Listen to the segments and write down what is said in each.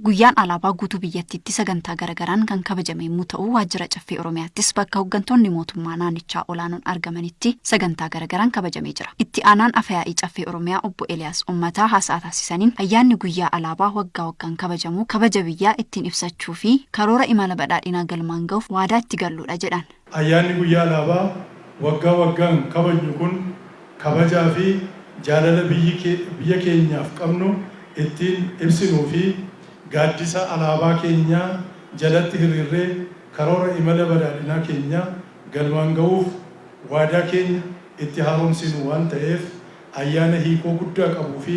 Guyyaan alaabaa guutuu biyyattiitti sagantaa garagaraan kan kabajame yommuu ta'u waajjira caffee Oromiyaattis bakka hooggantoonni mootummaa naannichaa olaanoon argamanitti sagantaa garagaraan kabajamee jira. Itti aanaan afayaa'ii caffee Oromiyaa obbo Eliyaas Ummataa haasaa taasisaniin ayyaanni guyyaa alaabaa waggaa waggaan kabajamu kabaja biyyaa ittiin ibsachuu fi karoora imala badhaadhinaa galmaan gahuuf waadaa itti galluudha jedhan. Ayyaanni Guyyaa Alaabaa waggaa waggaan kabajnu kun kabajaa fi jaalala biyya keenyaaf qabnu ittiin ibsinuu fi gaaddisa alaabaa keenyaa jalatti hiriirree karoora imala badhaadhinaa keenya galmaan ga'uuf waadaa keenya itti haaromsinu waan ta'eef ayyaana hiikoo guddaa qabuu fi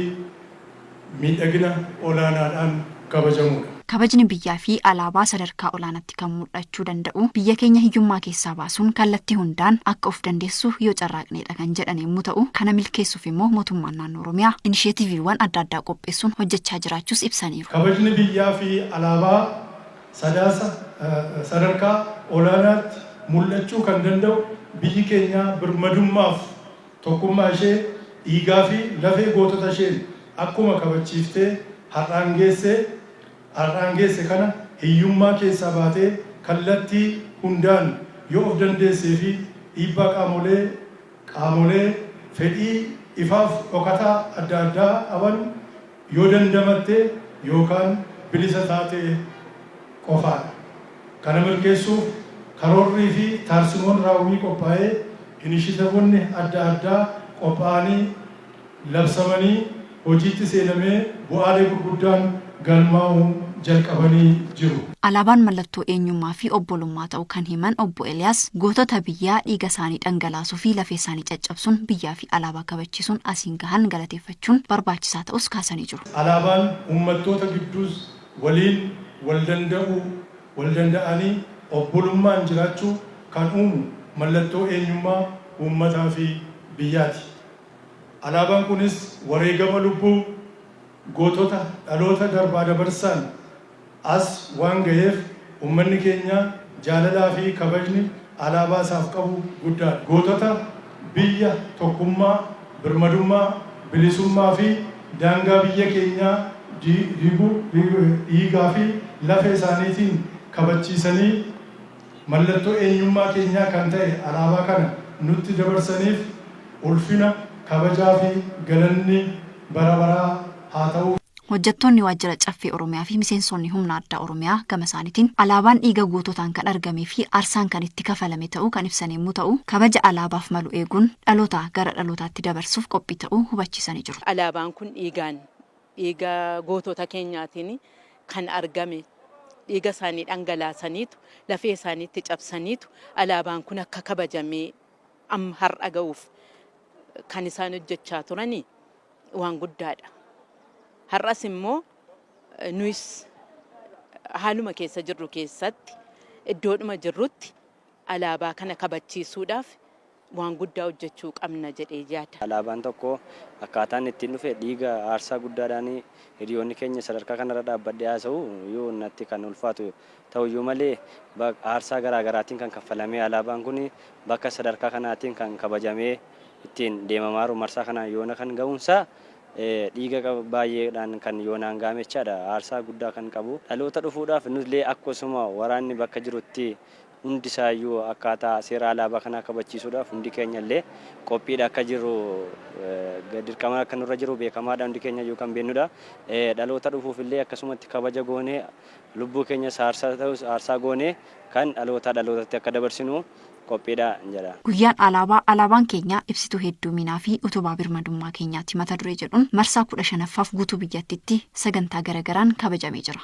miidhagina olaanaadhaan kabajamuudha. Kabajni biyyaa fi alaabaa sadarkaa olaanatti kan mul'achuu danda'u biyya keenya hiyyummaa keessaa baasuun kallattii hundaan akka of dandeessu yoo carraaqneedha kan jedhan yemmuu ta'u, kana milkeessuuf immoo Mootummaan Naannoo Oromiyaa inisheetiiviiwwan adda addaa qopheessuun hojjechaa jiraachuus ibsaniiru. Kabajni biyyaa fi alaabaa Sadaasa sadarkaa olaanaatti mul'achuu kan danda'u biyyi keenya birmadummaaf. Tokkummaa ishee dhiigaa fi lafee gootota isheen akkuma kabachiiftee har'aan geesse har'aan geesse kana hiyyummaa keessaa baatee kallattii hundaan yoo of dandeessee fi dhiibbaa qaamolee qaamolee fedhii ifaaf dhokataa adda addaa qaban Yoo dandamatte yookaan bilisa taate qofaadha. Kana milkeessuuf karoorrii fi taarsimoon raawwii qophaa'ee inishitavonni adda addaa qophaa'anii labsamanii hojiitti seenamee bu'aalee gurguddaan galmaa'uu jalqabanii jiru. Alaabaan mallattoo eenyummaa fi obbolummaa ta'u kan himan Obbo Eliyaas, gootota biyyaa dhiiga isaanii dhangalaasuu fi lafee isaanii caccabsuun biyyaa fi alaabaa kabachiisuun asiin gahan galateeffachuun, hojjechuun barbaachisaa ta'uus kaasanii jiru. Alaabaan ummattoota gidduus waliin waldanda'uu, waldanda'anii obbolummaan jiraachuu kan uumu mallattoo eenyummaa ummataafi biyyaati. Alaabaan kunis wareegama lubbuu gootota dhaloota darbaadabarsaan as waan gaheef ummanni keenya jaalalaa fi kabajni alaabaa isaaf qabu guddaa dha. Gootota biyya, tokkummaa, birmadummaa, bilisummaa fi daangaa biyya keenyaa diiguu dhiigaa fi lafee isaaniitiin kabachiisanii, Mallattoo eenyummaa keenyaa kan ta'e alaabaa kana nutti dabarsaniif ulfina, kabajaa fi galanni bara baraa haa ta'uuf. Hojjattoonni Waajjira Caffee Oromiyaa fi Miseensoonni Humna Addaa Oromiyaa gama isaanitiin, Alaabaan dhiiga goototaan kan argamee fi aarsaan kan itti kafalame ta'uu kan ibsan yemmuu ta'u, kabaja alaabaaf malu eeguun dhalootaa gara dhalootaatti dabarsuuf qophii ta'uu hubachiisanii jiru. Alaabaan kun dhiigaan Dhiiga gootota keenyaatiin kan argame, dhiiga isaanii dhangalaasaniitu, lafee isaanii itti cabsaniitu alaabaan kun akka kabajamee amma har'a ga'uuf kan isaan hojjechaa turani waan guddaadha. Har'as immoo nuyis haaluma keessa jirru keessatti iddoodhuma jirrutti alaabaa kana kabachiisuudhaaf waan guddaa hojjechuu qabna jedhee yaada. Alaabaan tokko akkaataa inni ittiin dhufe dhiiga aarsaa guddaadhaan hiriyoonni keenya sadarkaa kanarra dhaabbadhee haasa'u iyyuu natti kan ulfaatu ta'u iyyuu malee aarsaa garaa garaatiin kan kaffalamee alaabaan kun bakka sadarkaa kanaatiin kan kabajamee ittiin deemamaaru marsaa kanaan yoona kan ga'uunsaa dhiiga baay'eedhaan kan yoonaan ga'ame jechaadha aarsaa guddaa kan qabu dhaloota dhufuudhaaf nullee akkasuma waraanni bakka jirutti Hundi isaa iyyuu akkaataa seera alaabaa kanaa kabachiisuudhaaf hundi keenya illee qophiidha akka jirru dirqama akka nurra jiru beekamaa dha. Hundi keenya iyyuu kan beennu dha. Dhaloota dhufuuf illee akkasumatti kabaja goonee lubbuu keenyas aarsaa ta'us aarsaa goonee kan dhalootaa dhalootatti akka dabarsinu qophiidha jedha. Guyyaan Alaabaa Alaabaan keenya ibsituu hedduuminaa fi utubaa birmadummaa keenyaati mata duree jedhuun marsaa 15ffaaf guutuu biyyattitti sagantaa gara garaan kabajamee jira.